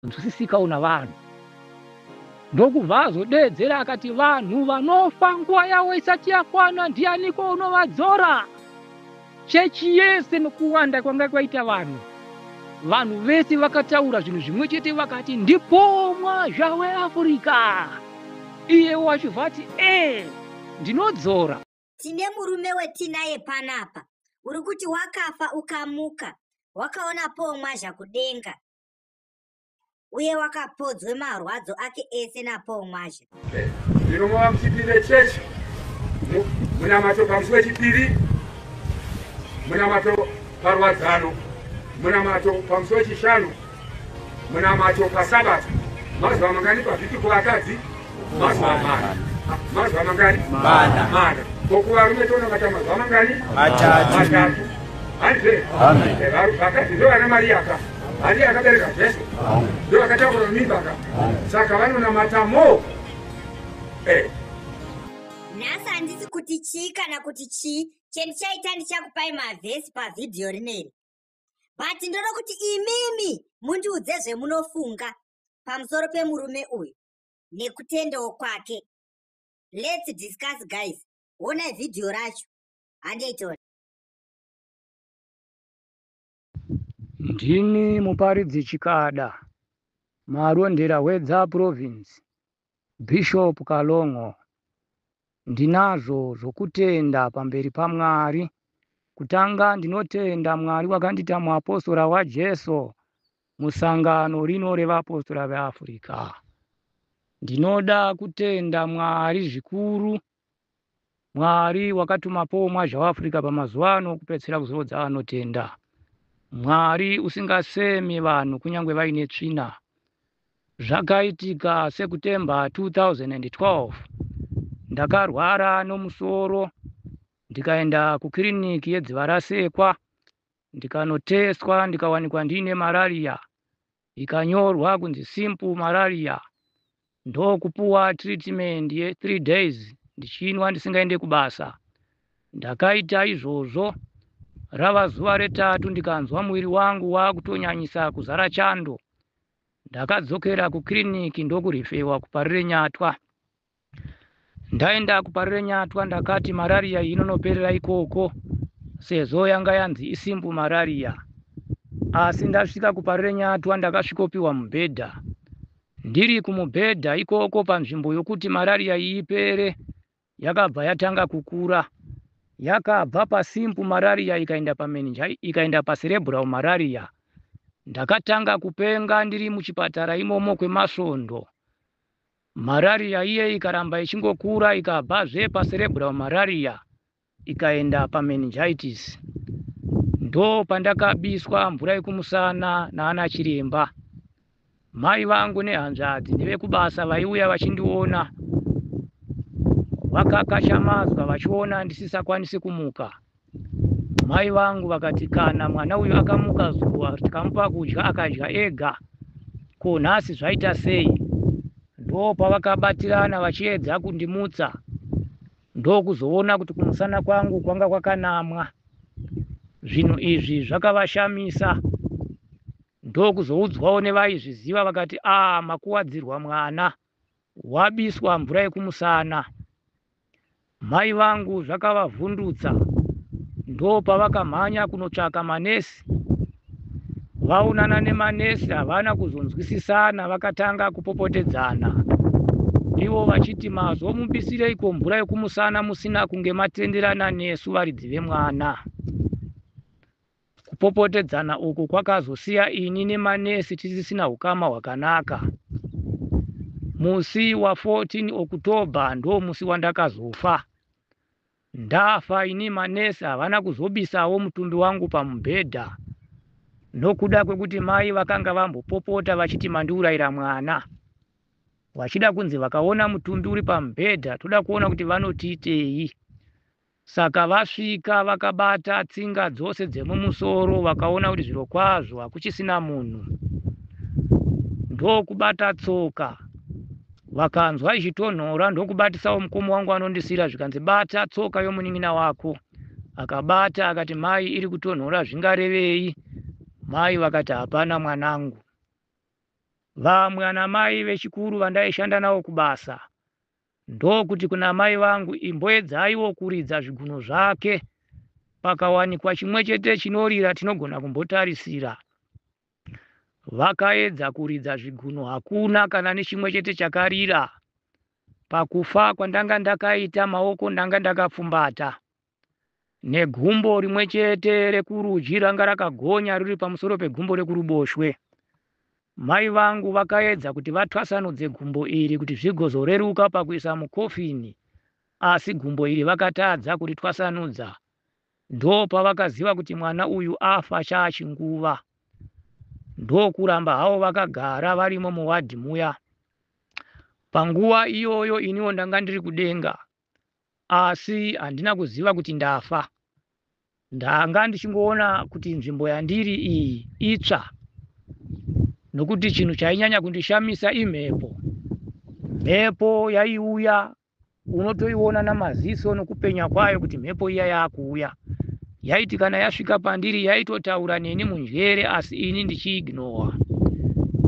nzwisisikawo navanhu ndokubva azodeedzera akati vanhu vanofa nguva yavo isati yakwana ndianiko unovadzora chechi yese nokuwanda kwanga kwaita vanhu vanhu vese vakataura zvinhu zvimwe chete vakati ndipomwa zvawe afurika iye wacho vati ee ndinodzora tine murume wetinaye panapa uri kuti wakafa ukamuka wakaona pomwa zvakudenga uye wakapodzwe marwadzo ake ese napaul mwazha ino mava muchipinde chechi munamato pamusi wechipiri munamato parwadzano munamato pamusi wechishanu munamato pasabata mazuva mangani pavhiki kuvakadzi mazuva mana mazuva mangani mana mana kokuvarume tonamata mazuva mangani matatu handize vakadzi ndovana mariyaka handi akabereka jesu ndo akatakura mimbaka saka vanonamata mo eh. nhasi handisi kuti chii kana kuti chii chendichaita ndichakupai mavhesi pavhidhiyo rineri but ndoda kuti imimi mundiudze zvemunofunga pamusoro pemurume uyu nekutendawo kwake let's discuss guys honai vhidhiyo racho handeitori ndini muparidzi chikada marondera hwedza province bishop kalongo Ndinazvo zvokutenda pamberi paMwari. Kutanga ndinotenda Mwari wakandiita muapostora waJesu musangano rino revapostora veAfrica. Ndinoda kutenda Mwari zvikuru Mwari wakatuma Paul Mwazha weAfrica pamazuva ano kupedzisira kuzorodza anotenda. Mwari usingasemi vanhu kunyange vaine tsvina. Zvakaitika September 2012 ndakarwara nomusoro ndikaenda kukiriniki yeDzivarasekwa ndikanotestwa ndikawanikwa ndiine malaria ikanyorwa kunzi simple malaria ndokupuwa treatment ye 3 days ndichinwa ndisingaende kubasa ndakaita izvozvo rava zuva retatu ndikanzwa muviri wangu wakutonyanyisa kuzara chando Ndakadzokera kukiriniki ndokurifewa kuparirenyatwa. Ndaenda kuparirenyatwa ndakati marariya inonoperera ikoko sezvo yanga yanzi isimbu marariya. Asi ndasvika kuparirenyatwa ndakasvikopiwa mubhedha. Ndiri kumubhedha ikoko panzvimbo yokuti marariya ipere yakabva yatanga kukura yakabva pasimple malaria ikaenda pameninja ikaenda pacerebral malaria ndakatanga kupenga ndiri muchipatara imomo kwemasvondo malaria iye ikaramba ichingokura ikabvazve pacerebral malaria ikaenda pameningitis ndo pandakabiswa mvura yekumusana naana chiremba Mai vangu nehanzvadzi nevekubasa vaiuya vachindiona vakakashamadzwa vachiona ndisisakwanisi kumuka. Mai vangu vakati kana mwana uyu akamuka zuva tikamupa kudya akadya ega, ko nhasi zvaita sei? Ndoo pavakabatirana vachiedza kundimutsa ndokuzoona kuti kumusana kwangu kwanga kwakanamwa. Zvinhu izvi zvakavashamisa. Ndokuzoudzwawo nevaizviziva vakati aah makuwadzirwa mwana wabiswa mvura yekumusana. Mai vangu zvakavavhundutsa ndopavakamhanya kunotsvaka manesi. Vaonana nemanesi havana kuzonzwisisana vakatanga kupopotedzana ivo vachiti mazomubisireiko mvura yekumusana musina kunge matenderana nesu varidzi vemwana. Kupopotedzana uku kwakazosiya ini nemanesi tisisina ukama hwakanaka. Musi wa 14 October ndo musi wandakazofa. Ndafa ini manesi havana kuzobisawo mutumbi wangu pamubhedha nokuda kwekuti mai vakanga vambopopota vachiti mandiurayira mwana vachida kunzi vakaona mutumbi uri pamubhedha toda kuona kuti vanotiitei Saka vasvika vakabata tsinga dzose dzemumusoro vakaona kuti zvirokwazvo hakuchisina munhu. Ndokubata tsoka vakanzwa ichitonhora ndokubatisawo mukoma wangu anondisira zvikanzi bata tsoka yomunin'ina wako. Akabata akati mai iri kutonhora zvingarevei? Mai vakati hapana mwanangu. Vamwe anamai vechikuru vandaishanda nawo kubasa Ndokuti kuna amai vangu, Imboedzaiwo kuridza zvigunwe zvake. Pakawanikwa chimwechete chinorira tinogona kumbotarisira. Vakaedza kuridza zvigunwe hakuna kana nechimwechete chakarira. Pakufa kwandanga ndakaita maoko ndanga ndakapfumbata. negumbo rimwe chete rekurudyi ranga rakagonya riri pamusoro pegumbo rekuruboshwe. Mai vangu vakaedza kuti vatwasanudze gumbo iri kuti zvigozoreruka pakuisa mukofini asi gumbo iri vakatadza kuritwasanudza. Ndopavakaziva kuti mwana uyu afa chaachinguva. Ndokuramba havo vakagara varimo muwadhi muya. Panguva iyoyo iniwo ndanga ndiri kudenga asi handina kuziva kuti ndafa. Ndanga ndichingoona kuti nzvimbo yandiri iyi itsva nokuti chinhu chainyanya kundishamisa imhepo. Mhepo yaiuya unotoiona namaziso nokupenya kwayo kuti mhepo iya yakuuya. Yaiti kana yasvika pandiri yaitotaura neni munjere asi ini ndichiignowa.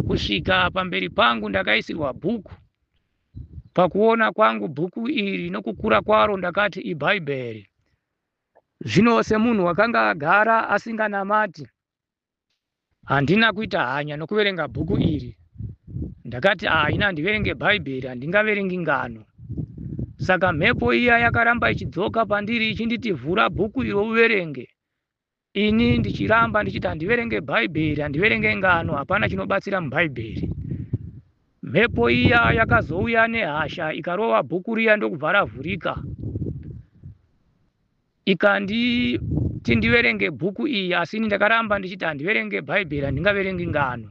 Kusvika pamberi pangu ndakaisirwa bhuku Pakuona kwangu bhuku iri nokukura kwaro ndakati iBhaibheri. Zvino semunhu wakanga agara asinganamati, handina kuita hanya nokuverenga bhuku iri. Ndakati, ah, ini handiverenge Bhaibheri, handingaverengi ngano. Saka mhepo iya yakaramba ichidzoka pandiri ichinditi, vhura bhuku iro uverenge. Ini ndichiramba ndichiti handiverenge Bhaibheri, handiverenge ngano, hapana chinobatsira muBhaibheri. Mhepo iya yakazouya nehasha ikarova bhuku riya ndokubva ravhurika. Ikanditi ndiverenge bhuku iyi asi ini ndakaramba ndichiti handiverenge Bhaibheri, handingaverengi ngano.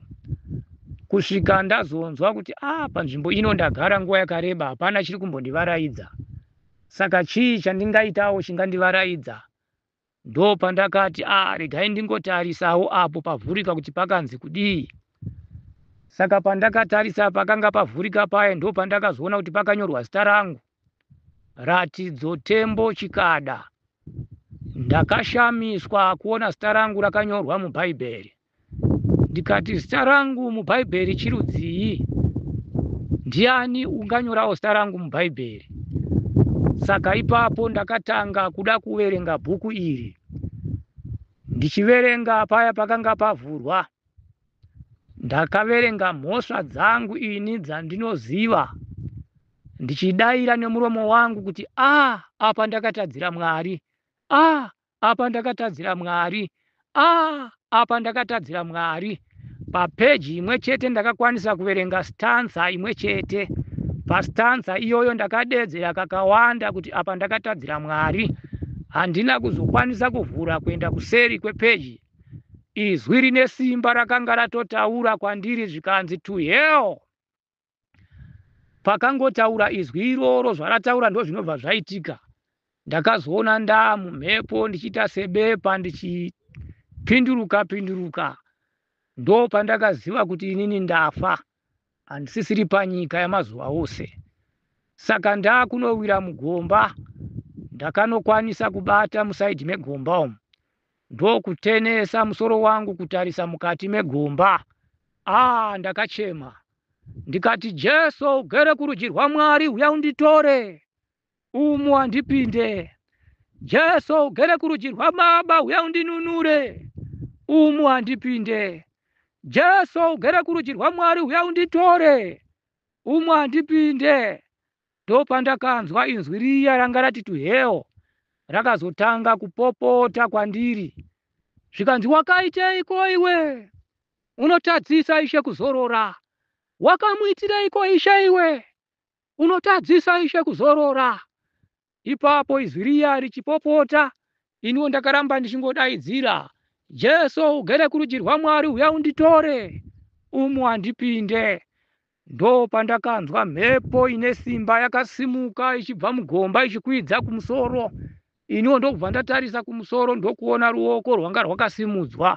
Kusvika ndazonzwa kuti ah, panzvimbo ino ndagara nguva yakareba hapana chiri kumbondivaraidza. Saka chii chandingaitawo chingandivaraidza? Ndopandakati ah regai ndingotarisawo apo pavhurika kuti pakanzi kudii. Saka pandakatarisa pakanga pavhurika paye ndopandakazoona kuti pakanyorwa zita rangu. Ratidzo Tembo Chikada. Ndakashamiswa kuona zita rangu rakanyorwa mubhaibheri. Ndikati, Zita rangu muBhaibheri chirudzii? Ndiani unganyorawo zita rangu muBhaibheri? Saka ipapo ndakatanga kuda kuverenga bhuku iri. Ndichiverenga paya pakanga pavhurwa, ndakaverenga mhosva dzangu ini dzandinoziva ndichidaira nemuromo wangu kuti a ah, apa ndakatadzira Mwari, a ah, apa ndakatadzira mwari ah apa ndakatadzira mwari papeji imwe chete ndakakwanisa kuverenga stanza imwe chete pastanza iyoyo ndakadeedzera kakawanda kuti apa ndakatadzira mwari handina kuzokwanisa kuvhura kuenda kuseri kwepeji izwi rine simba rakanga ratotaura kwandiri zvikanzi to hell Pakangotaura izwi iroro zvarataura ndozvinobva zvaitika. Ndakazoona ndaa mumhepo ndichiita sebepa ndichipinduruka pinduruka. Ndopandakaziva kuti inini ndafa handisisiri panyika yamazuva ose. Saka ndaa kunowira mugomba ndakanokwanisa kubata musaidhi megomba umu. ndokutenesa musoro wangu kutarisa mukati megomba aa ndakachema ndikati jesu ugere kurudyi rwamwari uya unditore umu handipinde jesu ugere kurudyi rwababa uya undinunure umu handipinde jesu ugere kurudyi rwamwari uya unditore umu handipinde Ndopandakanzwa inzwi riya ranga rati to hell rakazotanga kupopota kwandiri zvikanzi wakaiteiko iwe unotadzisa ishe kuzorora wakamuitireiko ishe iwe unotadzisa ishe kuzorora ipapo izwi riya richipopota Iniwo ndakaramba ndichingodaidzira, Jesu ugere kurudyi rwaMwari huya unditore, umu handipinde. Ndopandakanzwa mhepo ine simba yakasimuka ichibva mugomba ichikwidza kumusoro. Iniwo ndokubva ndatarisa kumusoro ndokuona ruoko rwanga rwakasimudzwa.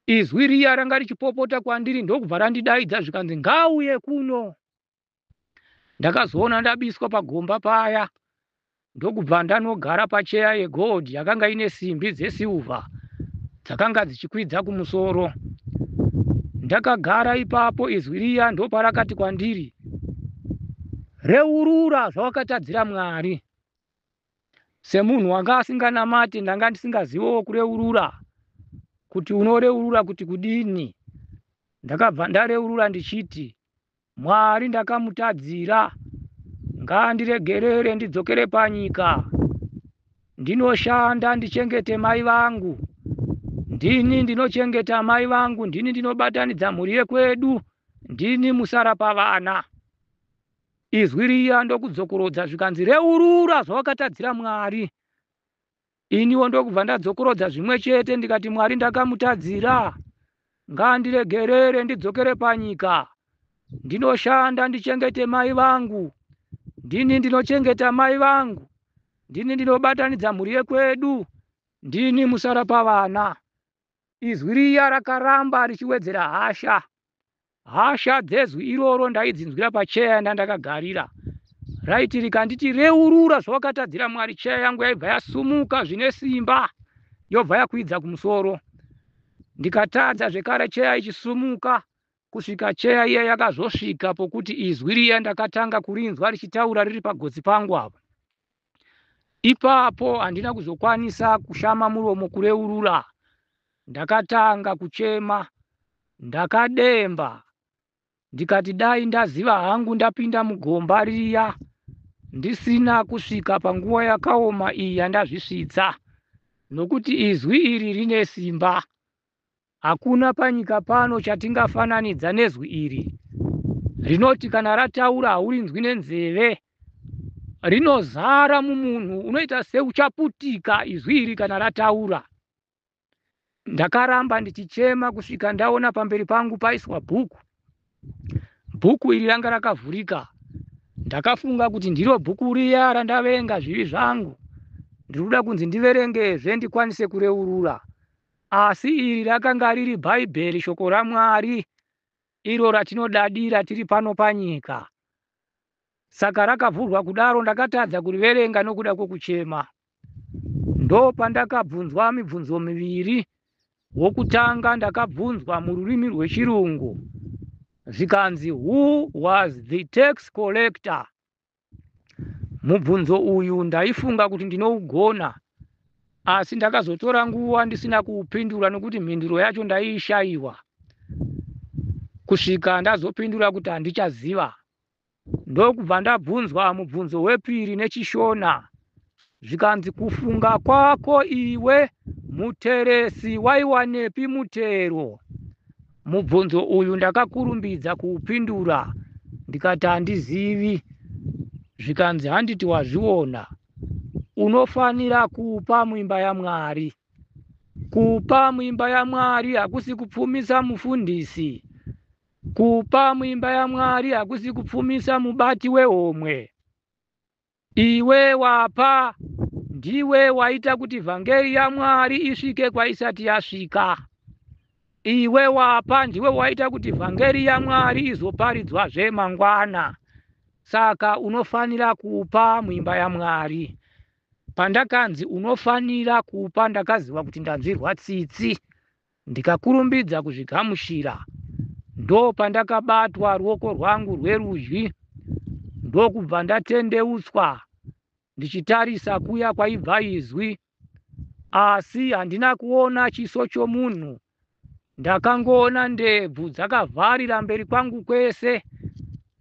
Izwi riya ranga richipopota kwandiri ndokubva randidaidza zvikanzi, Ngauye kuno! ndakazoona ndabiswa pagomba paya ndokubva ndanogara pacheya yegold yakanga ine simbi dzesilva dzakanga dzichikwidza kumusoro ndakagara ipapo izwi riya ndoparakati kwandiri reurura zvawakatadzira mwari semunhu wanga asinganamati ndanga ndisingazivawo kureurura kuti unoreurura kuti kudini ndakabva ndareurura ndichiti Mwari ndakamutadzira ngaandiregerere ndidzokere panyika ndinoshanda ndichengete mai vangu ndini ndinochengeta mai vangu ndini ndinobatanidza mhuri yekwedu ndini musara pavana izwi riya ndokudzokorodza zvikanzi reurura zvawakatadzira mwari Iniwo ndokubva ndadzokorodza zvimwe chete ndikati Mwari ndakamutadzira ngaandiregerere ndidzokere panyika ndinoshanda ndichengete mai vangu ndini ndinochengeta mai vangu ndini ndinobatanidza mhuri yekwedu ndini musara pavana izwi riya rakaramba richiwedzera hasha Hasha dzezwi iroro ndaidzinzwira pacheya yanda ndakagarira raiti rikanditi reurura zvawakatadzira Mwari, cheya yangu yaibva yasumuka zvine simba yobva yakwidza kumusoro. Ndikatadza zvekare cheya ichisumuka kusvika cheya iya yakazosvika pokuti izwi riya ndakatanga kurinzwa richitaura riri pagotsi pangu apo. Ipapo handina kuzokwanisa kushama muromo kureurura. Ndakatanga kuchema ndakademba ndikati dai ndaziva hangu ndapinda mugomba riya ndisina kusvika panguva yakaoma iyi yandazvisvitsa nokuti izwi iri rine simba. Hakuna panyika pano chatingafananidza nezwi iri rinoti kana rataura haurinzwi nenzeve. Rinozara mumunhu, unoita seuchaputika izwi iri kana rataura. Ndakaramba ndichichema kusvika ndaona pamberi pangu paiswa bhuku. Bhuku iri ranga rakavhurika. Ndakafunga kuti ndiro bhuku riya randaverenga zvivi zvangu. Ndiri kuda kunzi ndiverengezve ndikwanise kureurura. Asi iri rakanga riri Bhaibheri, Shoko raMwari, iro ratinodadira tiri pano panyika. Saka rakavhurwa kudaro, ndakatadza kuriverenga nokuda kwokuchema. Ndopandakabvunzwa mibvunzo miviri. Wokutanga ndakabvunzwa mururimi rweChirungu, zvikanzi, Who was the tax collector? Mubvunzo uyu ndaifunga kuti ndinougona asi ndakazotora nguva ndisina kuupindura nokuti mhinduro yacho ndaiishaiwa kusvika ndazopindura kuti handichaziva ndokubva ndabvunzwa mubvunzo wepiri nechishona zvikanzi kufunga kwako iwe muteresi waiwanepi mutero mubvunzo uyu ndakakurumbidza kuupindura ndikati handizivi zvikanzi handiti wazviona unofanira kupa muimba yamwari kupa muimba yamwari hakusi kupfumisa mufundisi kupa muimba yamwari hakusi kupfumisa mubati wehomwe Iwe wapa, ndiwe waita kuti vhangeri yaMwari isvike kwaisati yasvika. Iwe wapa, ndiwe waita kuti vhangeri yaMwari izoparidzwazve mangwana. Saka unofanira kupa muimba yaMwari. Pandakanzi unofanira kupa ndakaziva kuti ndanzwirwa tsitsi. Ndikakurumbidza kuzvigamuchira ndopandakabatwa ruoko rwangu rwerudyi ndokubva ndatendeutswa ndichitarisa kuya kwaibva izwi asi handina kuona chiso chomunhu ndakangoona ndebvu dzakavharira mberi kwangu kwese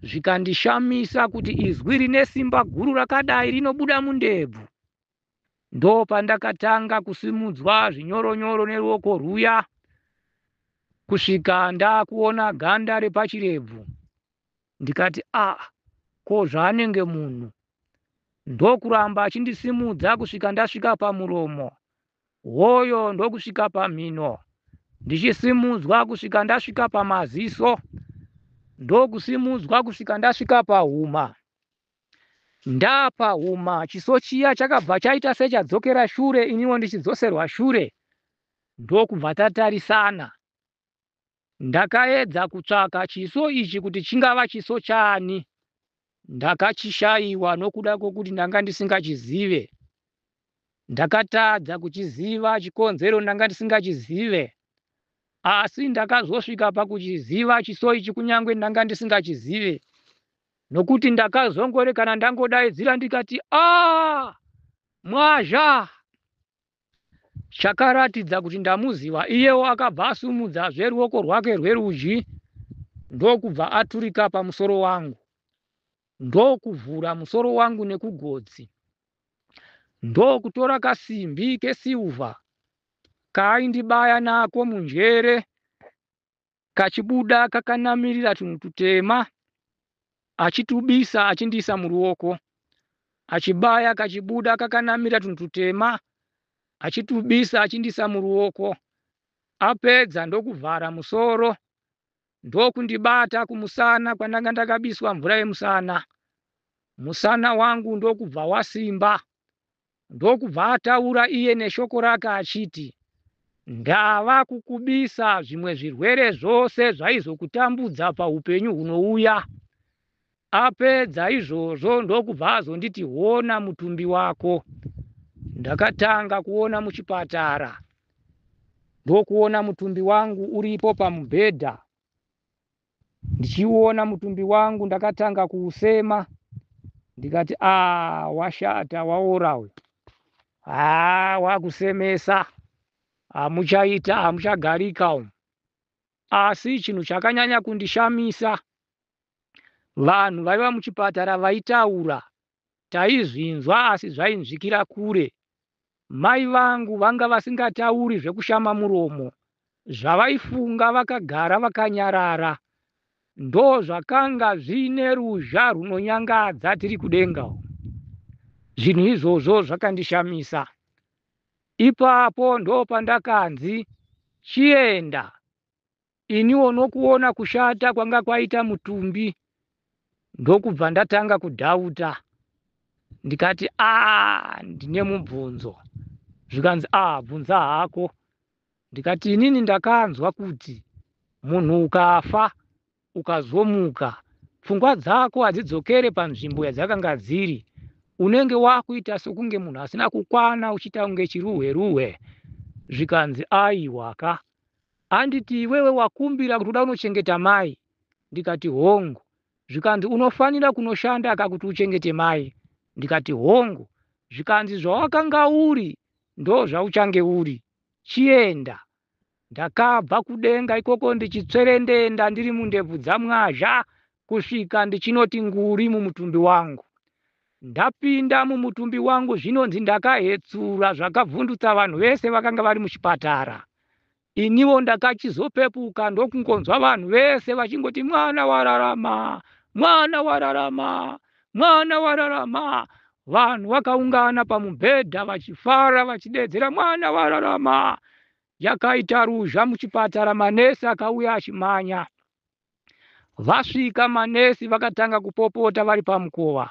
zvikandishamisa kuti izwi rine simba guru rakadai rinobuda mundebvu ndopandakatanga kusimudzwa zvinyoronyoro neruoko rwuya kusvika ndakuona ganda repachirebvu ndikati a ah, ko zvaanenge munhu ndokuramba achindisimudza kusvika ndasvika pamuromo hoyo ndokusvika pamhino ndichisimudzwa kusvika ndasvika pamaziso ndokusimudzwa kusvika ndasvika pahuma Ndapa huma chiso chiya chakabva chaita sechadzokera shure iniwo ndichidzoserwa shure ndokubva tatarisana. Ndakaedza kutsvaka chiso ichi kuti chingava chiso chani ndakachishaiwa nokuda kwokuti ndanga ndisingachizive. Ndakatadza kuchiziva chikonzero ndanga ndisingachizive asi ndakazosvika pakuchiziva chiso ichi kunyange ndanga ndisingachizive nokuti ndakazongore kana ndangodaidzira ndikati a ah, mwazha chakaratidza kuti ndamuziva iyewo akabva asumudza zveruoko rwake rwerudyi ndokubva aturika pamusoro wangu ndokuvhura musoro wangu nekugodzi ndokutora kasimbi kesilver kaaindibaya nako munjere kachibuda kakanamirira tunhu tutema achitubisa achindiisa muruoko achibaya kachibuda kakanamira tunhu tutema achitubisa achindiisa muruoko apedza ndokuvhara musoro ndokundibata kumusana kwandanga ndakabiswa mvura yemusana musana wangu ndokubva wasimba ndokubva ataura iye neshoko rake achiti ndava kukubisa zvimwe zvirwere zvose zvaizokutambudza paupenyu hunouya Apedza izvozvo ndokubva azonditi hona mutumbi wako. Ndakatanga kuona muchipatara ndokuona mutumbi wangu uripo pamubhedha. Ndichiona mutumbi wangu ndakatanga kuusema ndikati ah washata waora uyu haa wakusemesa hamuchaita hamuchagarika umu asi chinhu chakanyanya kundishamisa Vanhu vaiva muchipatara vaitaura taizvinzwa asi zvainzvikira kure. Mai vangu vanga vasingatauri zvekushama muromo, zvavaifunga vakagara vakanyarara. Ndozvakanga zviine ruzha rwunonyangadza tiri kudenga uku. Zvinhu izvozvo zvakandishamisa. Ipapo ndopandakanzi chienda iniwo nokuona kushata kwanga kwaita mutumbi ndokubva ndatanga kudhauta ndikati a ndine mubvunzo zvikanzi a bvunza hako ndikati inini ndakanzwa kuti munhu ukafa ukazomuka pfungwa dzako hadzidzokere panzvimbo yadzakanga dziri unenge wakuita sokunge munhu asina kukwana uchiita kunge chiruhwe ruhwe zvikanzi aiwaka Anditi iwewe wakumbira kuti uda unochengeta mai? Ndikati hongu. Zvikanzi unofanira kunoshanda ka kuti uchengete mai? Ndikati hongu. Zvikanzi zvawakanga uri ndozvauchange uri. Chienda. Ndakabva kudenga ikoko ndichitswerendenda ndiri mundebvu dzaMwazha Kusvika ndichinoti nguri mumutumbi wangu. Ndapinda mumutumbi wangu zvinonzi ndakahetsura zvakavhundutsa vanhu vese vakanga vari muchipatara. Iniwo ndakachizopepuka ndokungonzwa vanhu vese vachingoti mwana wararama, mwana wararama, mwana wararama. Vanhu vakaungana pamubhedha vachifara vachidedzera mwana wararama. Yakaita ruzha muchipatara manesi akauya achimanya. Vasvika manesi vakatanga kupopota vari pamukova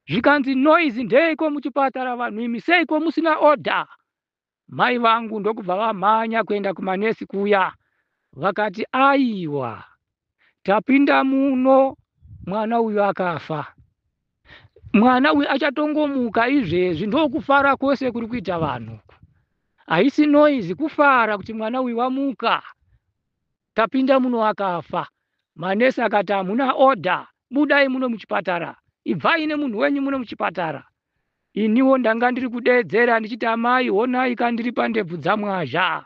zvikanzi noise ndeiko muchipatara vanhu imi seiko musina order mai vangu ndokubva vamhanya kuenda kumanesi kuya vakati aiwa tapinda muno mwana uyu akafa mwana uyu achatongomuka izvezvi ndokufara kwose kuri kuita vanhu haisi noise kufara kuti mwana uyu wamuka Tapinda muno akafa. Manesi akati, Hamuna order. Budai muno muchipatara. Ibvai nemunhu wenyu muno muchipatara. Iniwo ndanga ndiri kudeedzera ndichiti, Amai, honai ka ndiri pandebvu dzaMwazha.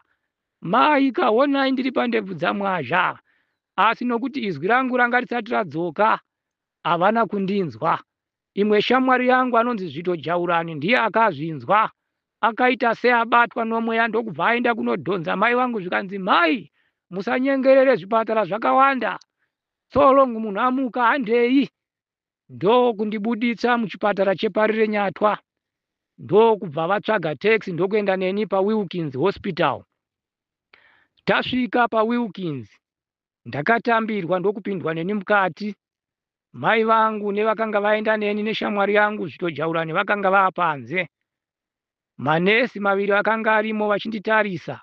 Mai ka, honai ndiri pandebvu dzaMwazha. Asi nokuti izwi rangu ranga risati radzoka, havana kundinzwa. Imwe shamwari yangu anonzi Zvito Jaurani ndiye akazvinzwa akaita seabatwa nomweya ndokubva aenda kunodhonza mai vangu zvikanzi mhai musanyengerere zvipatara zvakawanda so long munhu amuka handei ndokundibuditsa muchipatara cheparirenyatwa ndokubva vatsvaga taxi ndokuenda neni pawilkins hospital tasvika pawilkins Ndakatambirwa ndokupindwa neni mukati. Mai vangu nevakanga vaenda neni neshamwari yangu Zvitojaurani vakanga vaa panze. Manesi maviri akanga arimo vachinditarisa.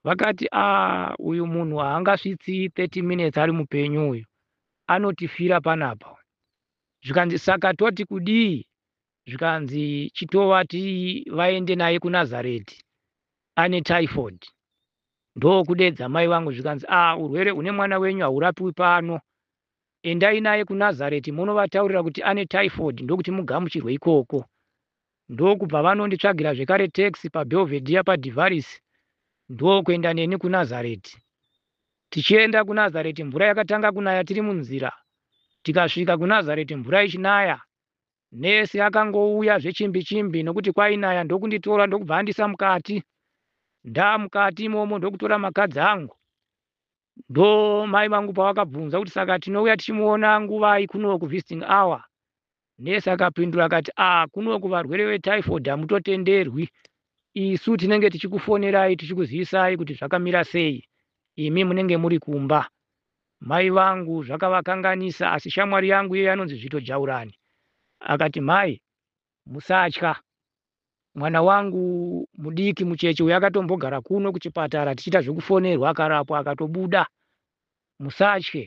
Vakati, ah, uyu munhu haangasvitsi 30 minutes ari mupenyu uyu. Anotifira panapa. Zvikanzi, saka toti kudii? Zvikanzi, chitovati vaende naye kuNazareti. Ane typhoid. Ndokudeedza mai vangu zvikanzi, Aah urwere hune mwana wenyu haurapiwi pano. Endai naye kuNazareti monovataurira kuti ane typhoid ndokuti mugamuchirwe ikoko. Ndokubva vanonditsvagira zvekare tax paBelvedere paDivaris ndokuenda neni kuNazareti. Tichienda kuNazareti mvura yakatanga kunaya tiri munzira. Tikasvika kuNazareti mvura ichinaya Nurse akangouya zvechimbi chimbi nokuti kwainaya ndokunditora ndokubva andisa mukati. Ndaamukati imomo ndokutora makadzi angu. Ndo mai vangu pavakabvunza kuti saka tinouya tichimuona nguvai kuno kuvisiting hour. Nurse akapindura akati ah kuno kuvarwere vetyphoid hamutotenderwi. Isu tinenge tichikufonerai tichikuzivisai kuti zvakamira sei. Imi munenge muri kumba. Mai vangu zvakavakanganisa asi shamwari yangu iye anonzi Zvito Jaurani akati, Mhai, musatya. Mwana wangu mudiki mucheche uyu akatombogara kuno kuchipatara tichiita zvekufonerwa akarapwa akatobuda. Musatye.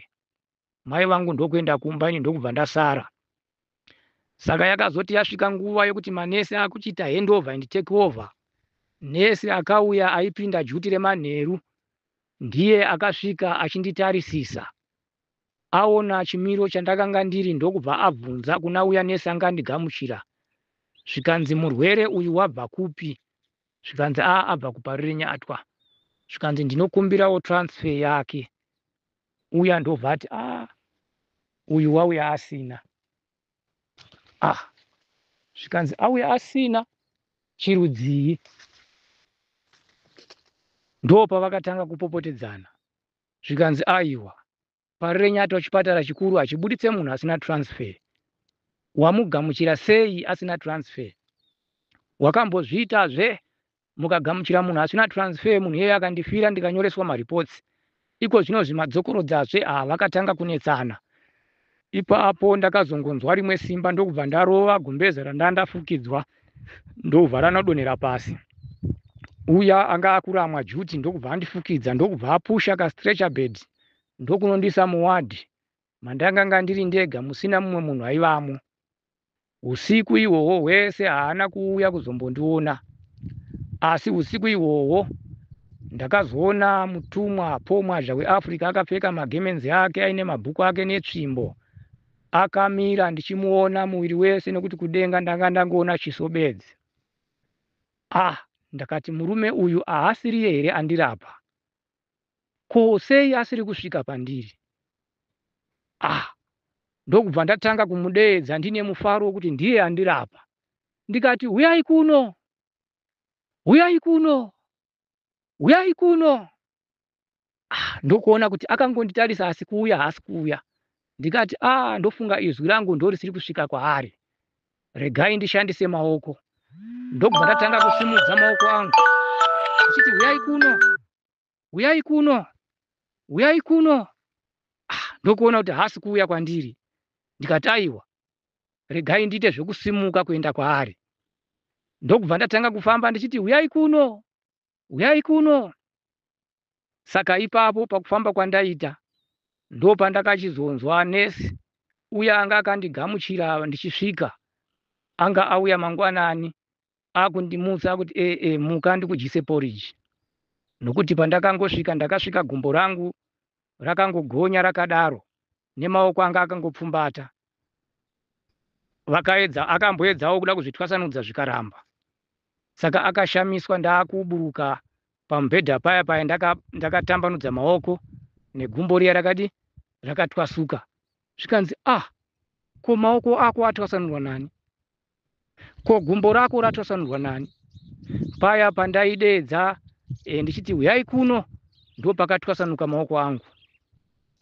Mai vangu ndokuenda kumba ini ndokubva ndasara. Saka yakazoti yasvika nguva yokuti manesi akuchiita handover and take over, nesi akauya aipinda juti remanheru ndiye akasvika achinditarisisa. Aona chimiro chandakanga ndiri ndokubva abvunza kuna uya nesi anga andigamuchira zvikanzi murwere uyu wabva kupi? Zvikanzi aa abva kuparurenya atwa. Zvikanzi ndinokumbirawo transfer yake. uya ndobva ati ah uyu wauya asina ah zvikanzi auya asina chirudzii ndopa vakatanga kupopotedzana zvikanzi aiwa pari renyatwa chipatara chikuru hachibuditse munhu asina transfer wamugamuchira sei asina transfer wakambozviitazve mukagamuchira munhu asina transfer munhu iyeye akandifira ndikanyoreswa mareports iko zvino zvimadzokorodzazve haa vakatanga kunetsana ipapo ndakazongonzwa rimwe simba ndokubva ndarova gumbeze randaa ndafukidzwa ndobva ranodonhera pasi uya anga akuramwa juti ndokubva andifukidza ndokubva apusha kastretcher bed ndokunondisa muwadhi mandakanga ndiri ndega musina mumwe munhu aivamo. Usiku ihwohwo hwese haana kuuya kuzombondiona. Asi usiku ihwohwo ndakazoona mutumwa Paul Mwazha weAfrica akapfeka magemenzi ake aine mabhuku ake netsvimbo. Akamira ndichimuona muviri wese nekuti kudenga ndanga ndangoona chiso bedzi. Ah, ndakati murume uyu ahasiriye here andirapa? ko sei asiri kusvika pandiri? Ah, ndokubva ndatanga kumudeedza ndine mufaro wekuti ndiye andirapa ndikati huyai kuno, huyai kuno, huyai kuno. Ah, ndokuona kuti akangonditarisa asi kuuya haasi kuuya. Ndikati, Ah, ndofunga izwi rangu ndorisiri kusvika kwaari. Regai ndishandise maoko. Ndokubva ndatanga kusimudza maoko angu ndichiti, Huyai kuno, huyai kuno, huyai kuno. Ah, ndokuona kuti haasi kuuya kwandiri. Ndikati, Aiwa, regai ndiite zvekusimuka kuenda kwaari. Ndokubva ndatanga kufamba ndichiti, Huyai kuno, Huyai kuno! Saka ipapo pakufamba kwandaita ndopandakachizonzwa nurse uya anga akandigamuchira ndichisvika anga auya mangwanani akundimutsa akuti ee eh, eh, muka ndikudyise porridge nokuti pandakangosvika ndakasvika gumbo rangu rakangogonya rakadaro nemaoko anga akangopfumbata vakaedza akamboedzawo kuda kuzvitwasanudza zvikaramba saka akashamiswa ndaakuburuka pamubhedha paya paya ndakatambanudza ndaka maoko negumbo riya rakadi rakatwasuka zvikanzi ah ko maoko ako atwasanurwa nani ko gumbo rako ratwasanurwa nani paya pandaideedza e, ndichiti huyai kuno ndo pakatwasanuka maoko angu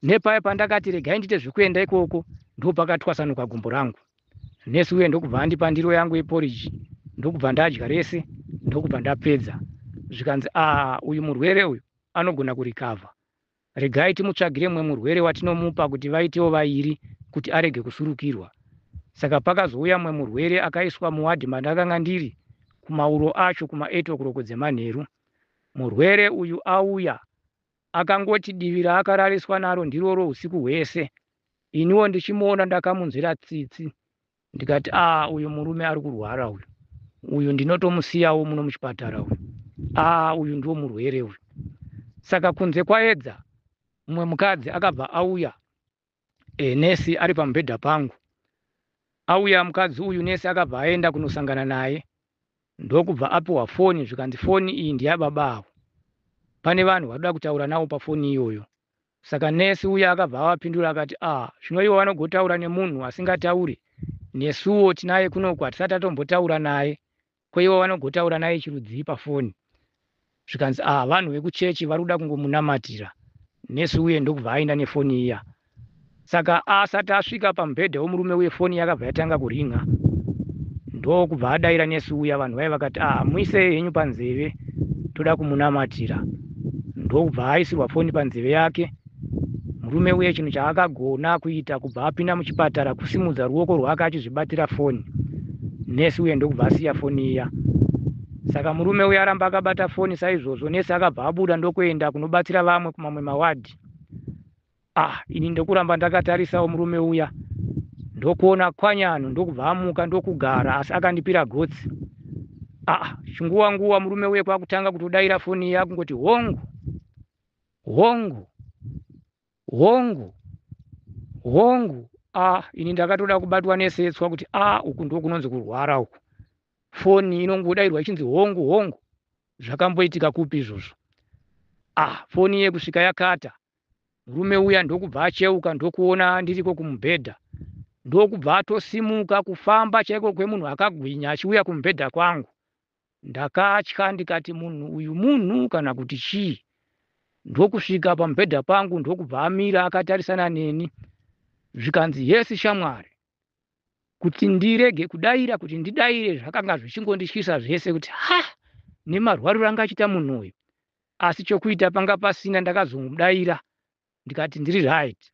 nepaya pandakati regai ndiite zvekuenda ikoko ndo pakatwasanuka gumbo rangu nesi uye ndokubva andipa ndiro yangu yeporiji ndokubva ndadya rese ndokubva ndapedza zvikanzi a ah, uyu murwere uyu anogona kurikavha Regai timutsvagire mumwe murwere watinomupa kuti vaitewo vairi kuti arege kusurukirwa. Saka pakazouya mumwe murwere akaiswa muwadhi mandakanga ndiri kumauro acho kuma eight o'clock dzemanheru. Murwere uyu auya akangoti divi raakarariswa naro ndiroro husiku hwese iniwo ndichimuona ndakamunzwira tsitsi ndikati aa uyu murume ari kurwara uyu uyu ndinotomusiyawo muno muchipatara uyu aa uyu ndiwo murwere uyu saka kunze kwaedza mumwe mukadzi akabva auya e, nesi ari pamubhedha pangu auya mukadzi uyu nesi akabva aenda kunosangana naye ndokubva apiwa foni zvikanzi foni iyi ndiyababa avo pane vanhu vadoda kutaura navo pafoni iyoyo Saka nurse uya akabva avapindura akati, ah zvino ivo vanogotaura nemunhu asingataure? Nesuwo tinaye kunoku hatisati tatombotaura naye, ko ivo vanogotaura naye chirudzii pafoni? Zvikanzi, ah vanhu vekuchechi vari kuda kungomunamatira. Nurse uye ndokubva aenda nefoni iya. Saka asati asvika pamubhedha wemurume uye foni yakabva yatanga kuringer ndokubva adaira nurse uya vanhu vaye vakati ah muise henyu panzeve toda kumunamatira ndokubva aisirwa foni panzeve yake murume uye chinhu chaakagona kuita kubva apinda muchipatara kusimudza ruoko rwake achizvibatira foni nurse uye ndokubva asiya foni iya saka murume uye aramba akabata foni saizvozvo nurse akabva abuda ndokuenda kunobatsira vamwe kumamwe mawadhi Ah, ini ndokuramba ndakatarisawo murume uya ndokuona kwanyano ndokubva amuka ndokugara asi akandipira gotsi. Ah, chinguwa nguwa murume uye kwakutanga kutodaira foni iya kungoti hongu hongu hongu hongu a ini ndakatoda kubatwa nesetswa kuti a uku ndo kunonzi kurwara uku foni inongodairwa ichinzi hongu hongu zvakamboitika kupi izvozvo a foni yekusvika yakata murume uya ndokubva acheuka ndokuona ndiriko kumubhedha ndokubva atosimuka kufamba chaiko kwemunhu akagwinya achiuya kumubhedha kwangu ndakatya ndikati munhu uyu munhu kana kuti chii ndokusvika pamubhedha pangu ndokubva amira akatarisana neni zvikanzi yesi shamwari kuti ndirege kudaira kuti ndidaire zvakanga zvichingondityisa zvese kuti ha nemarwariro anga achiita munhu uyu asi chokuita panga pasina ndakazongomudaira ndikati ndiri right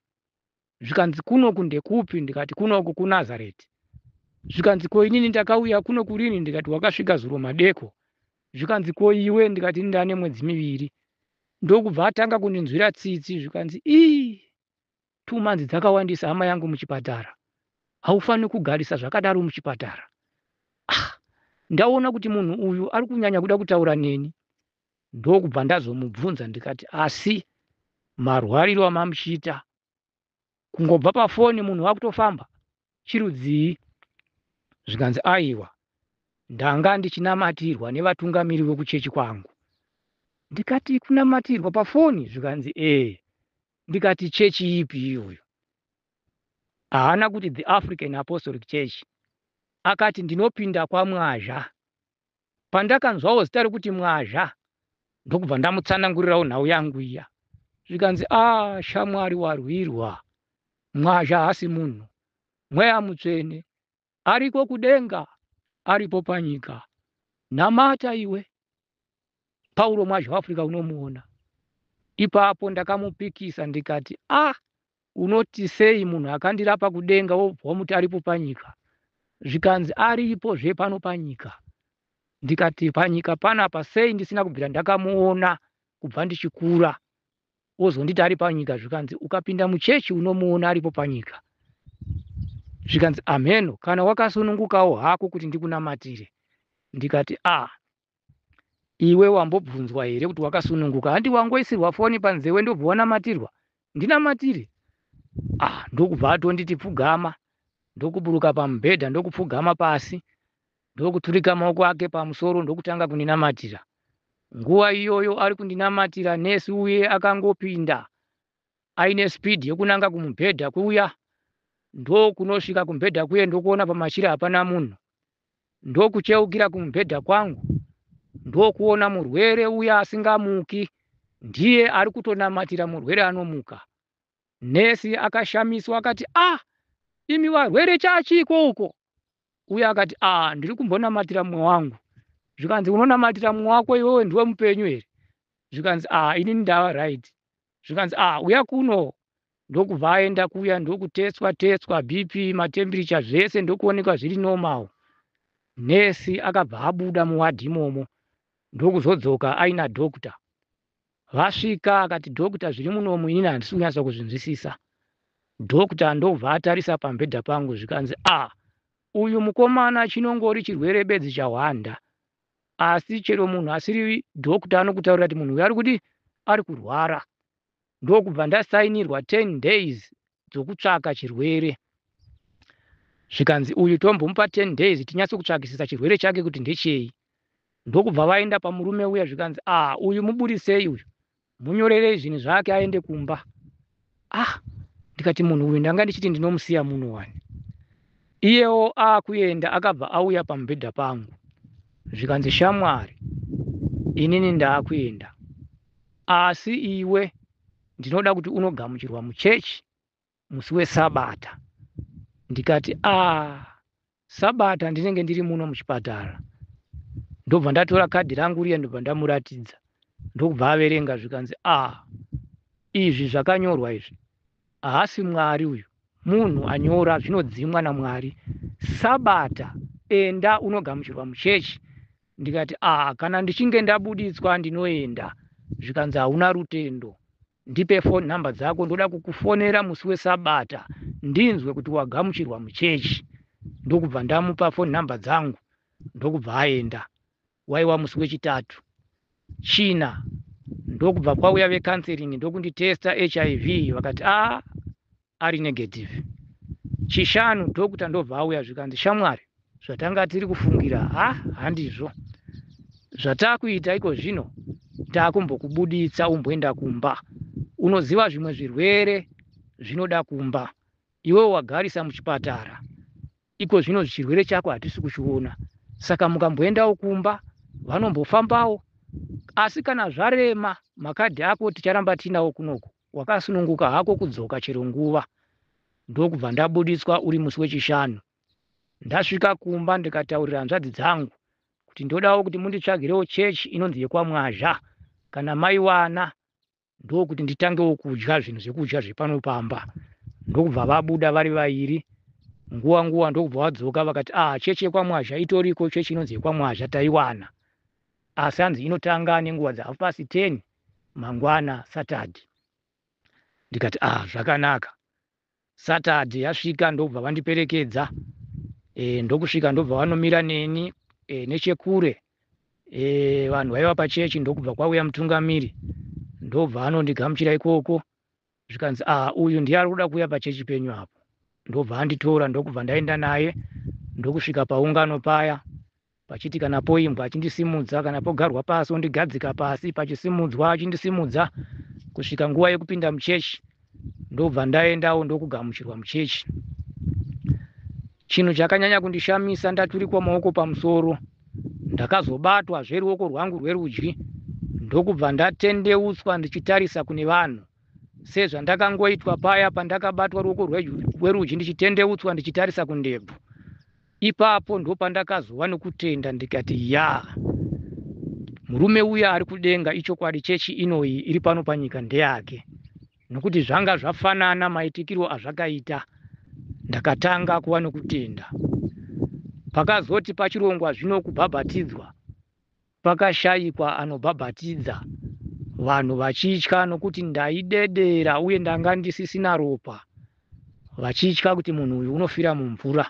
zvikanzi kunoku ndekupi ndikati kunoku kunazareti zvikanzi ko inini ndakauya kuno kurini ndikati wakasvika zuro madeko zvikanzi ko iwe ndikati ini ndane mwedzi miviri ndokubva atanga kundinzwira tsitsi zvikanzi ii two months dzakawandisa hama yangu muchipatara haufaniri kugarisa zvakadaro muchipatara ah, ndaona kuti munhu uyu ari kunyanya kuda kutaura neni ndokubva ndazomubvunza ndikati asi marwariro amamuchiita kungobva pafoni munhu wakutofamba chirudzii zvikanzi aiwa ndanga ndichinamatirwa nevatungamiri vekuchechi kwangu ndikati kunamatirwa pafoni zvikanzi ee ndikati chechi ipi iyoyo haana kuti the african apostolic church akati ndinopinda kwamwazha Pandakanzwawo zita rekuti Mwazha ndokubva ndamutsanangurirawo nhau yangu iya zvikanzi a ah, shamwari warwirwa Mwazha hasi munhu mweya mutsvene ariko kudenga aripo panyika namata iwe pauro mwazha waafrica unomuona ipapo ndakamupikisa ndikati a ah, Unoti sei munhu akandirapa kudenga wobva wamuti aripo panyika? Zvikanzi aripo zve pano panyika. Ndikati panyika panapa sei ndisina kubvira ndakamuona kubva ndichikura? Wozonditi ari panyika zvikanzi ukapinda muchechi unomuona aripo panyika. Zvikanzi amheno kana wakasunungukawo hako kuti ndikunamatire. Ndikati a ah, iwe wambobvunzwa here kuti wakasununguka handi wangoisirwa foni panzewe ndobva wanamatirwa ndinamatire ah ndokubva atonditi pfugama ndokuburuka pamubhedha ndokupfugama pasi ndokuturika maoko ake pamusoro ndokutanga kundinamatira nguva iyoyo ari kundinamatira nesi uye akangopinda aine speed yokunanga kumubhedha kuya ndokunosvika kumubhedha kuye ndokuona pamachira hapana munhu ndokucheukira kumubhedha kwangu ndokuona murwere uya asingamuki ndiye ari kutonamatira murwere anomuka nesi akashamiswa akati ah imi varwere chachiiko uko uye akati ah ndiri kumbonamatira mumwe wangu zvikanzi unonamatira mumwe wako iwewe ndiwe mupenyu here zvikanzi ah inini ndava right zvikanzi ah uya kuno ndokubva aenda kuya ndokutetswa tetswa bp matemperature zvese ndokuonekwa zviri normal nurse akabva abuda muwadhi imomo ndokuzodzoka aina doctor vasvika akati doctor zviri munomu inini handisi kunyatsa kuzvinzwisisa doctor ndokubva atarisa pambhedha pangu zvikanzi ah uyu mukomana chinongori chirwere bedzi chahwanda asi chero munhu asiri doctor anokutaurira kuti munhu uyu ari kudii ari kurwara ndokubva ndasainirwa 10 days dzokutsvaka chirwere zvikanzi uyu tombomupa 10 days tinyatso kutsvakisisa chirwere chake kuti ndechei ndokubva vaenda pamurume uya zvikanzi a ah, uyu muburisei uyu munyorerei zvinhu zvake aende kumba ah ndikati munhu uyu ndanga ndichiti ndinomusiya muno wani iyewo akuenda akabva auya pamubhedha pangu zvikanzi shamwari inini ndaakuenda asi iwe ndinoda kuti unogamuchirwa muchechi musi wesabata ndikati a ah, sabata ndinenge ndiri muno muchipatara ndobva ndatora kadhi rangu riya ndobva ndamuratidza ndokubva averenga zvikanzi a ah, izvi zvakanyorwa izvi haasi mwari uyu munhu anyora zvinodzimwa namwari sabata enda unogamuchirwa muchechi ndikati a ah, kana ndichinge ndabuditswa ndinoenda zvikanzi hauna rutendo Ndipe phone number dzako ndoda kukufonera musi wesabata ndinzwe kuti wagamuchirwa muchechi. Ndokubva ndamupa phone number dzangu ndokubva aenda. Waiwa musi wechitatu. China ndokubva kwauya vecounselling ndokunditesta hiv vakati ah ari negative chishanu doctor ndobva auya zvikanzi shamwari zvatanga tiri kufungira ha handizvo zvatakuita iko zvino takumbokubuditsa umboenda kumba unoziva zvimwe zvirwere zvinoda kumba iwe wagarisa muchipatara iko zvino chirwere chako hatisi kuchiona saka mukamboendawo kumba vanombofambawo asi kana zvarema makadhi ako ticharamba tiinawo kunoku Wakasununguka hako kudzoka chero nguva ndokubva ndabuditswa uri musi wechishanu. Ndasvika kumba ndikataurira hanzvadzi dzangu kuti ndodawo kuti munditsvagirewo chechi inonzi yekwaMwazha kana maiwana ndokuti nditangewo kudya zvinhu zvekudya zvepano pamba. Ndokubva vabuda vari vairi nguva nguva ndokubva vadzoka vakati ah chechi yekwaMwazha itoriko chechi inonzi yekwaMwazha taiwana asi hanzi inotanga nenguva dzahalf past ten mangwana Saturday ndikati ah zvakanaka Saturday yasvika ndobva vandiperekedza e, ndokusvika ndobva vanomira neni e, nechekure e, vanhu vaiva pachechi ndokubva kwauya mutungamiri ndobva anondigamuchira ikoko zvikanzi ah uyu ndiye ari kuda kuuya pachechi penyu apo ndobva anditora ndokubva ndaenda naye ndokusvika paungano paya pachiti kana poimbwa achindisimudza kana pogarwa pasi ondigadzika pasi pachisimudzwa achindisimudza kusvika nguva yekupinda muchechi ndobva ndaendawo ndokugamuchirwa muchechi Chinhu chakanyanya kundishamisa ndaturikwa maoko pamusoro ndakazobatwa zveruoko rwangu rwerudyi ndokubva ndatendeutswa ndichitarisa kune vanhu sezvandakangoitwa paya pandakabatwa ruoko rwerudyi ndichitendeutswa ndichitarisa kundebvu ipapo ndopandakazova nokutenda ndikati ya murume uya ari kudenga ichokwadi chechi inoyi iri pano panyika ndeyake nokuti zvanga zvafanana maitikiro azvakaita ndakatanga kuva nokutenda pakazoti pachirongwa zvino kubhabhatidzwa pakashayikwa anobhabhatidza vanhu vachitya nokuti ndaidedera uye ndanga ndisisina ropa vachitya kuti munhu uyu unofira mumvura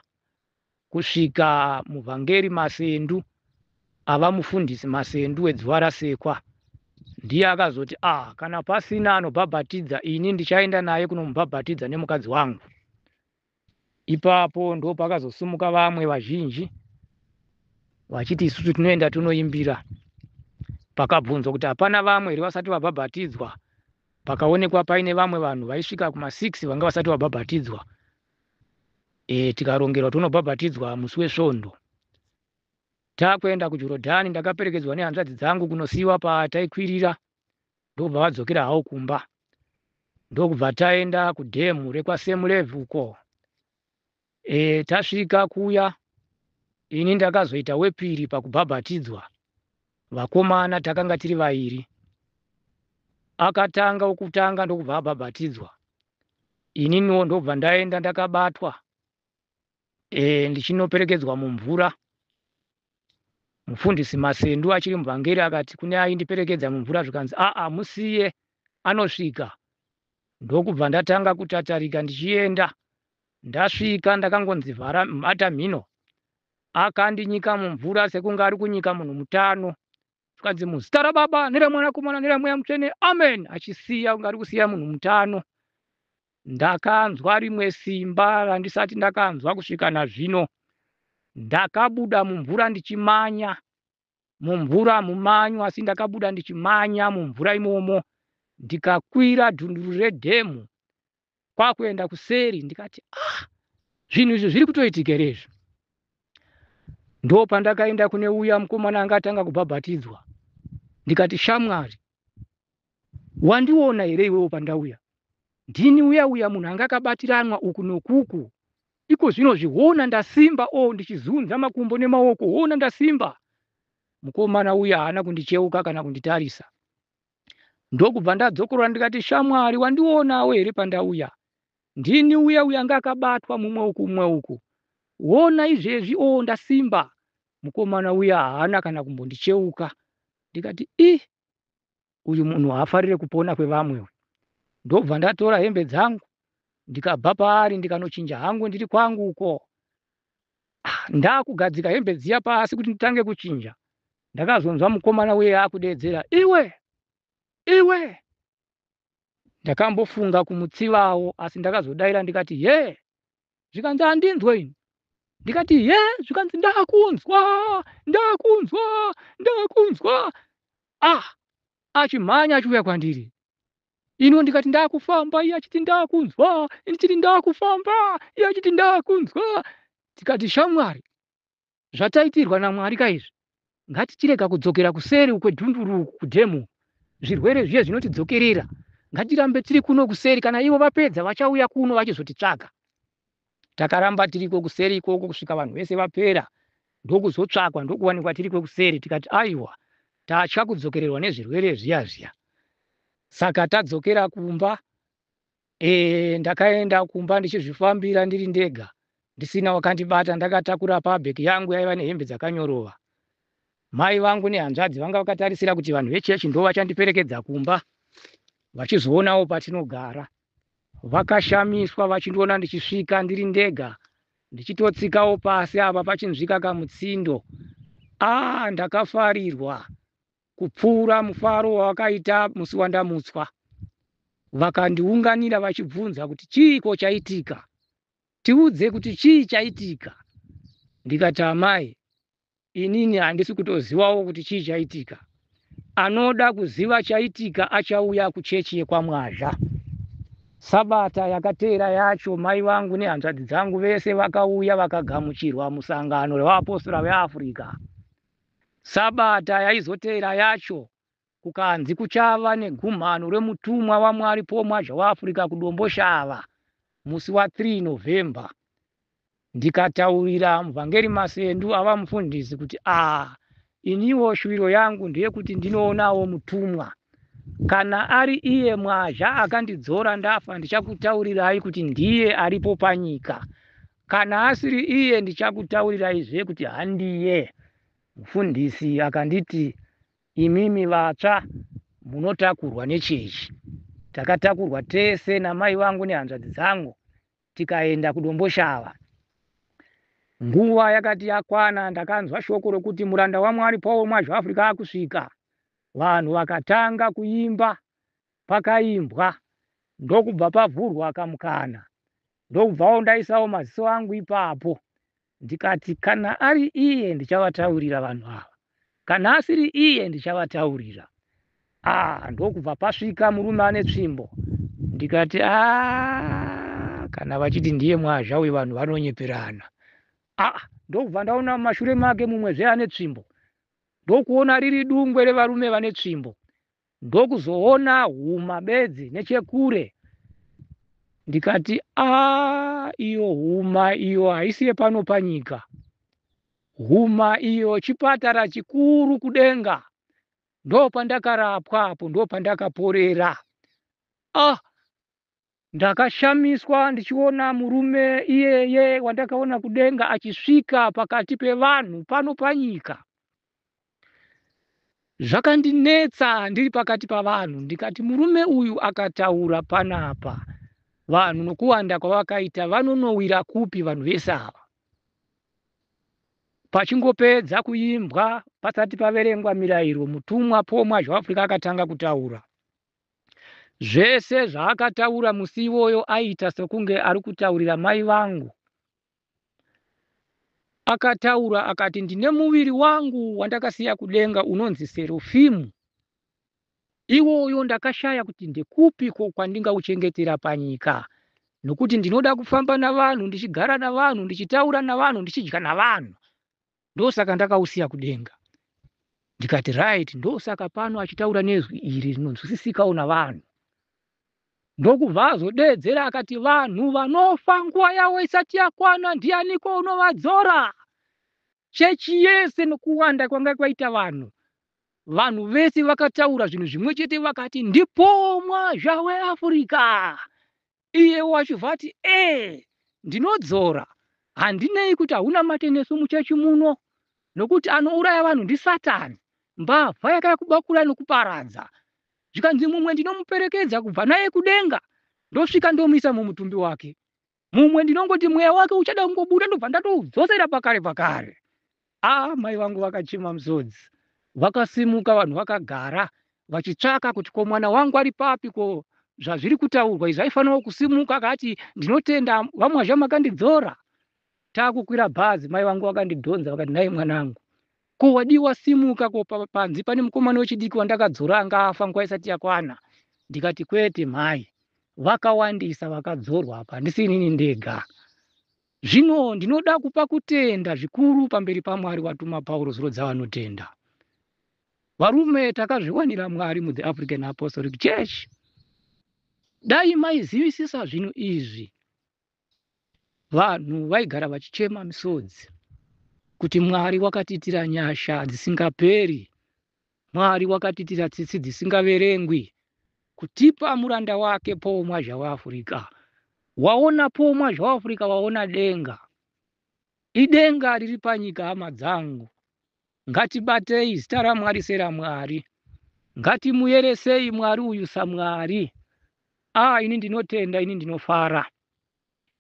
kusvika muvhangeri Masendu ava mufundisi Masendu weDzivarasekwa ndiye akazoti ah kana pasina anobhabhatidza ini ndichaenda naye kunomubhabhatidza nemukadzi wangu ipapo ndo pakazosumuka vamwe vazhinji vachiti isusu tinoenda tonoimbira pakabvunzwa kuti hapana vamwe here vasati vabhabhatidzwa pakaonekwa paine vamwe vanhu vaisvika kuma6 vanga vasati vabhabhatidzwa e, tikarongerwa tonobhabhatidzwa musi wesvondo takuenda kujorodhani ndakaperekedzwa nehanzvadzi dzangu kunosiiwa pataikwirira ndokubva vadzokera hawo kumba ndokubva taenda kudhemu rekwasemulevhu uko e, tasvika kuya ini ndakazoita wepiri pakubhabhatidzwa vakomana takanga tiri vairi akatanga wokutanga ndokubva abhabhatidzwa ininiwo ndobva ndaenda ndakabatwa e, ndichinoperekedzwa mumvura mufundisi masendu achiri muvhangeri akati kune aindiperekedza mumvura zvikanzi aa musiye anosvika ndokubva ndatanga kutatarika ndichienda ndasvika ndakangonzi vhara bata mhino akandinyika mumvura sekunge ari kunyika munhu mutano zvikanzi muzita rababa neramwanakomana neramweya mutsvene amen achisiya kunge ari kusiya munhu mutano ndakanzwa rimwe simba randisati ndakanzwa kusvika nazvino ndakabuda mumvura ndichimanya mumvura mumanyu asi ndakabuda ndichimanya mumvura imomo ndikakwira dhunduru redhemu kwakuenda kuseri ndikati ah zvinhu izvi zviri kutoitika here izvi ndo pandakaenda kune uya mukomana anga atanga kubhabhatidzwa ndikati shamwari wandiona here iwewo pandauya ndini uya uya munhu anga akabatiranwa uku nokuku iko zvino zviona ndasimba o oh, ndichizunza makumbo nemaoko ona ndasimba mukomana uya haana kundicheuka kana kunditarisa ndokubva ndadzokorora ndikati shamwari wandionawo here pandauya ndini uya uya anga akabatwa mumwe uku mumwe uku wona izvezvi o oh, ndasimba mukomana uya haana kana kumbondicheuka ndikati i uyu munhu haafarire kupona kwevamwe uyu ndobva ndatora hembe dzangu ndikabva paari ndikanochinja hangu ndiri kwangu uko Ah, ndakugadzika hembe dziya pasi kuti nditange kuchinja ndakazonzwa mukomana uye akudeedzera iwe iwe ndakambofunga kumutsivawo asi ndakazodaira ndikati ye zvikanzi handinzwe ini ndikati ye zvikanzi ndakunzwa ndakunzwa ndakunzwa ah achimhanya achiuya kwandiri ino ndikati ndakufamba iye achiti ndakunzwa ndichiti ndakufamba iye achiti ndakunzwa tikati shamwari zvataitirwa namwari kaizvi ngatichirega kudzokera kuseri ukwedhunduru uku kudhemu zvirwere zviye zvinotidzokerera ngatirambe tiri kuno kuseri kana ivo vapedza vachauya kuno vachizotitsvaga Takaramba tiriko kuseri ikoko kusvika vanhu vese vapera ndokuzotsvakwa ndokuwanikwa tiriko kuseri tikati aiwa tatya kudzokererwa nezvirwere zviya zviya saka tadzokera kumba e, ndakaenda kumba ndichizvifambira ndiri ndega ndisina wakandibata ndakatakura pabheki yangu yaiva nehembe dzakanyorova mai vangu nehanzvadzi vanga vakatarisira kuti vanhu vechechi ndo vachandiperekedza kumba vachizoonawo patinogara Vakashamiswa vachindiona ndichisvika ndiri ndega ndichitotsikawo pasi apa pachinzvika kamutsindo. Ah, ndakafarirwa kupfuura mufaro wavakaita musi wandamutswa. Vakandiunganira vachibvunza kuti chiiko chaitika, tiudze kuti chii chaitika. Ndikati amai, inini handisi kutozivawo kuti chii chaitika anoda kuziva chaitika achauya kuchechi yekwamwazha sabata yakateera yacho mai vangu nehanzvadzi dzangu vese vakauya vakagamuchirwa musangano revaapostora veafrica sabata yaizoteera yacho Kukanzi kuchava negumhano remutumwa waMwari Paul Mwazha weAfrica kuDomboshava musi wa 3 November ndikataurira muvhangeri Masendu ava mufundisi kuti ah iniwo shuviro yangu ndeyekuti ndinoonawo mutumwa kana ari iye Mwazha akandidzora ndafa ndichakutaurirai kuti ndiye aripo panyika kana asiri iye ndichakutauriraizve kuti handiye. Mufundisi akanditi Imimi vatsva munotakurwa nechechi. Takatakurwa tese namai vangu nehanzvadzi dzangu tikaenda kuDomboshava. Nguva yakati yakwana ndakanzwa shoko rokuti muranda waMwari Paul Mwazha Africa akusvika. Vanhu vakatanga kuimba, pakaimbwa ndokubva pavhurwa kamukana Ndokubvawo ndaisawo maziso angu ipapo ndikati kana ari iye ndichavataurira vanhu ava, kana asiri iye ndichavataurira. Ah, ndokubva pasvika murume ane tsvimbo ndikati ah, kana vachiti ndiye mwazha uyu vanhu vanonyeperana. Ah, ndokubva ndaona mumashure make mumwezve ane tsvimbo ndokuona riri dungwe revarume vane tsvimbo ndokuzoona huma bedzi nechekure ndikati aa iyo huma iyo haisi yepano panyika huma iyo chipatara chikuru kudenga ndopandakarapwa apo ndopandakaporera ah Ndakashamiswa ndichiona murume iyeye wandakaona kudenga achisvika pakati pevanhu pano panyika. Zvakandinetsa ndiri pakati pavanhu ndikati murume uyu akataura panapa vanhu nokuwanda kwavakaita vanonowira kupi vanhu vese ava. Pachingopedza kuimbwa pasati paverengwa mirayiro mutumwa Paul Mwazhawafurika akatanga kutaura. Zvese zvaakataura musi iwoyo aiita sekunge ari kutaurira mai vangu. Akataura akati ndine muviri wangu wandakasiya kudenga unonzi Serufimu. Iwoyo ndakashaya kuti ndekupi ko kwandingauchengetera panyika nokuti ndinoda kufamba navanhu ndichigara navanhu ndichitaura navanhu ndichidya navanhu. ndosaka ndakausiya kudenga ndikati right ndosaka pano achitaura nezwi iri rinonzwisisikawo navanhu ndokubva azodeedzera akati vanhu vanofa nguva yavo isati yakwana ndianiko unovadzora chechi yese nokuwanda kwanga kwaita vanhu vanhu vese vakataura zvinhu zvimwe chete vakati ndipomwa zvaweafurika iye wachibva ati ee ndinodzora handinei kuti hauna mate nesu muchechi muno nokuti anouraya vanhu ndisatani mbavha yakaya kubakura nokuparadza zvikanzi mumwe ndinomuperekedza kubva naye kudenga ndosvika ndomuisa mumutumbi wake mumwe ndinongoti mweya wake uchada kungobuda ndobva ndatoudzosera pakare pakare Haa mai vangu vakachema musodzi. Vakasimuka vanhu vakagara vachitsvaka kuti ko mwana wangu ari papi ko zvazviri kutaurwa izvi aifanira kusimuka akati ndinotenda vamwazha makandidzora takukwira bhazi mai vangu vakandidhonza vakati nhai mwanangu ko wadiwa simuka ko panzi pane mukomana wechidiki wandakadzora anga afa nguva isati yakwana ndikati kwete mhai vakawandisa vakadzorwa apa handisi inini ndega Zvino ndinoda kupa kutenda zvikuru pamberi paMwari watuma Pauro zuro dzavanotenda. Varume takazviwanira Mwari mu The African Apostolic Church. Dai maizivisisa zvinhu izvi. Vanhu vaigara vachichema misodzi kuti Mwari wakatiitira nyasha dzisingaperi Mwari wakatiitira tsitsi dzisingaverengwi kutipa muranda wake Paul Mwazha weAfurika. Waona Paul Mwazha weAfurika waona denga. Idenga riri panyika hama dzangu. Ngatibatei zita raMwari seraMwari. Ngatimuyeresei Mwari uyu saMwari. Ah, ini ndinotenda, ini ndinofara.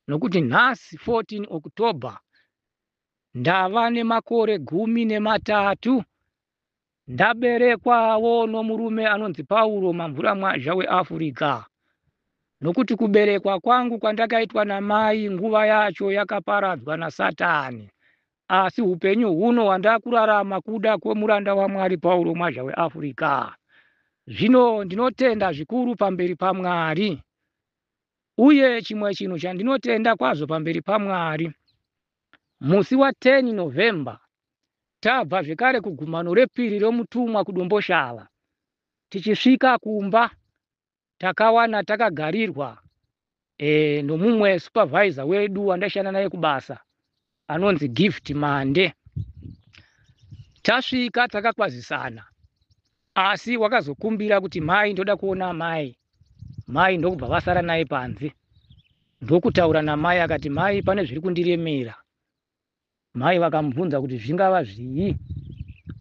Nokuti nhasi 14 October ndava nemakore gumi nematatu ndaberekwawo nomurume anonzi pauro mamvura mwazha weafrica nokuti kuberekwa kwangu kwandakaitwa namai nguva yacho yakaparadzwa nasatani asi upenyu huno hwandakurarama kuda kwemuranda wamwari pauro mwazha weafrica zvino ndinotenda zvikuru pamberi pamwari Uye chimwe chinhu chandinotenda kwazvo pamberi paMwari, musi wa 10 November tabva zvekare kugumano repiri remutumwa kuDomboshava, tichisvika kumba takawana takagarirwa eh, nomumwe supervisor wedu wandaishanda naye kubasa. anonzi Gift Mande. Tasvika takakwazisana asi wakazokumbira kuti mai ndoda kuona mai mai ndokubva vasara naye panze ndokutaura namai akati mai pane zviri kundiremera mai vakamubvunza kuti zvingava zvii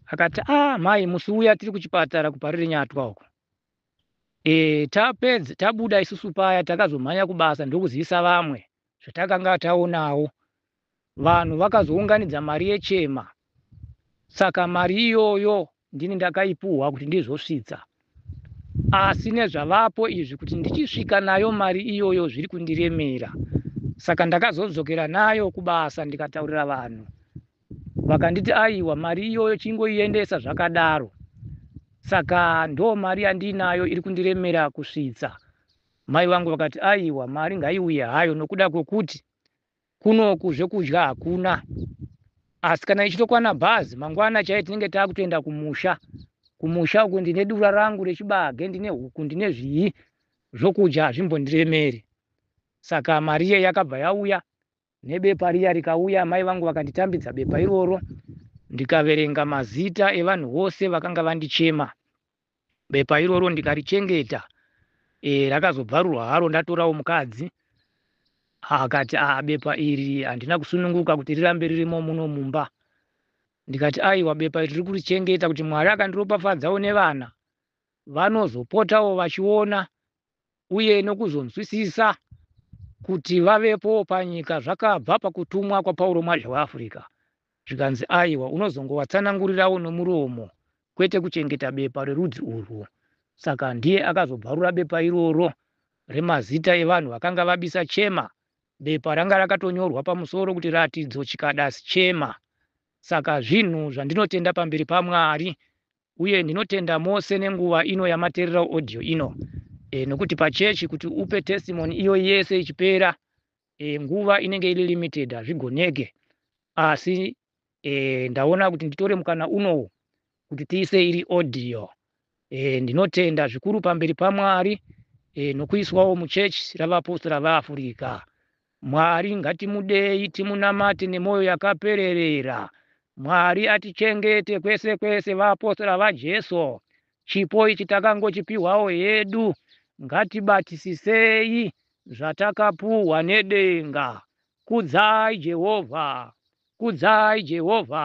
akati a ah, mai musi uya tiri kuchipatara kuparire nyatwa uko Eeh tapedza tabuda isusu paya takazomhanya kubasa ndokuzivisa vamwe zvatakanga taonawo. Vanhu vakazounganidza mari yechema saka mari iyoyo ndini ndakaipuhwa kuti ndizosvitsa asi nezvavapo izvi kuti ndichisvika nayo mari iyoyo zviri kundiremera saka ndakazodzokera nayo kubasa ndikataurira vanhu vakanditi aiwa mari iyoyo chingoiendesa zvakadaro saka ndo mari yandiinayo iri kundiremera kusvitsa mai vangu vakati aiwa mari ngaiuye hayo nokuda kwokuti kunoku zvekudya hakuna asi kana ichitokwana bhazi mangwana chaiye tinenge taakutoenda kumusha kumusha uku ndine dura rangu rechibage ndine huku ndine zvii zvokudya hazvimbondiremeri saka mari iye yakabva yauya nebepa riya rikauya amai vangu vakanditambidza bepa iroro ndikaverenga mazita evanhu vose vakanga vandichema bepa iroro ndikarichengeta e, rakazobvarurwa haro ndatorawo mukadzi akati a ah, bepa iri handina kusununguka kuti rirambe ririmo muno mumba ndikati aiwa bepa iri riri kurichengeta kuti mwari akandiropafadzawo nevana vanozopotawo vachiona uye nokuzonzwisisa kuti vavepo panyika zvakabva pakutumwa kwaPauro Mwadhla weAfrica zvikanzi aiwa unozongovatsanangurirawo nomuromo kwete kuchengeta bepa rerudzi urwu. Saka ndiye akazobvarura bepa iroro remazita evanhu vakanga vabisa Chema. Bepa ranga rakatonyorwa pamusoro kuti Ratidzo Chikadas Chema. Saka zvinhu zvandinotenda pamberi paMwari uye ndinotenda mose nenguva ino yamaterera audio ino e, nokuti pachechi kuti upe testimony iyo yese ichipera e, nguva inenge iri limited hazvigoneke asi e, ndaona kuti nditore mukana unowu kuti tiise iri audio e, ndinotenda zvikuru pamberi pamwari e, nokuiswawo muchechi ravapostora vaafurika Mwari ngatimudei timunamate nemoyo yakapererera Mwari atichengete kwese kwese vaapostora vaJesu chipo ichi takangochipihwawo hedu ngatibatisisei zvatakapuhwa nedenga Kudzai Jehovha Kudzai Jehovha.